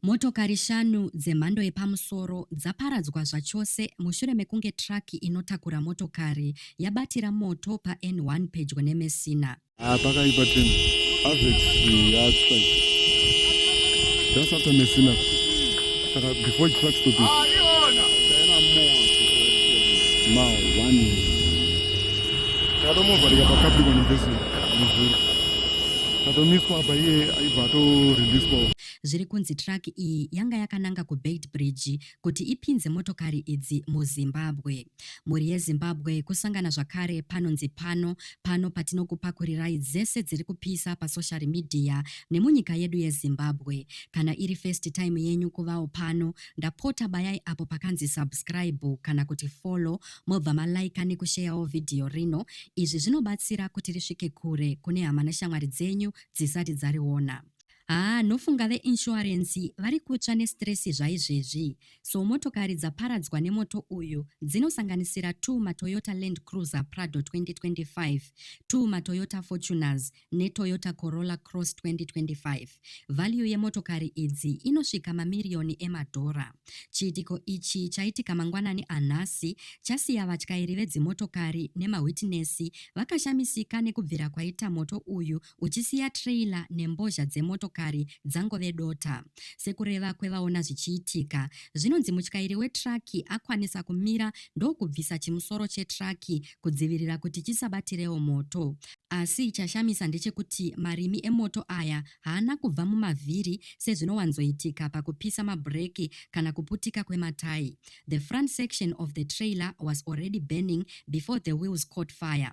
Motokari shanu dzemhando yepamusoro dzaparadzwa zvachose mushure mekunge truck inotakura motokari yabatira moto paN1 pedyo neMessina. Ah, pakaipa tena. Avex yatsva. Just after Messina. Saka before the truck stop. Ah, iona. Tena more. Now, one. Kado mova rika pakabrikwa nembezo. Kado miswa apa iye aibva ato release kwa. zviri kunzi truck iyi yanga yakananga kuBeitbridge kuti ipinze motokari idzi muZimbabwe. Mhuri yeZimbabwe kusangana zvakare panonzi pano pano patinokupakurirai dzese dziri kupisa pasocial media nemunyika yedu yeZimbabwe. Kana iri first time yenyu kuvawo pano, ndapota bayai apo pakanzi subscribe kana kuti follow mobva malaika nekusheyawo vhidhiyo rino. Izvi zvinobatsira kuti risvike kure kune hama neshamwari dzenyu dzisati dzariona. Haa nofunga ve insurance vari kutsva ne stress zvaizvezvi. So motokari dzaparadzwa nemoto uyu dzinosanganisira two maToyota Land Cruiser Prado 2025, two maToyota Fortuners ne Toyota Corolla Cross 2025. Value yemotokari idzi inosvika mamiriyoni emadhora. Chiitiko ichi chaitika mangwanani anhasi chasiya vatyairi vedzimotokari nemawhitinesi vakashamisika nekubvira kwaita moto uyu uchisiya trailer nembozha dzemotokari dzangove dota. Sekureva kwevaona zvichiitika, zvinonzi mutyairi wetraki akwanisa kumira ndokubvisa chimusoro chetraki kudzivirira kuti chisabatirewo moto. Asi chashamisa ndechekuti marimi emoto aya haana kubva mumavhiri sezvinowanzoitika pakupisa mabhureki kana kuputika kwematai. The front section of the trailer was already burning before the wheels caught fire,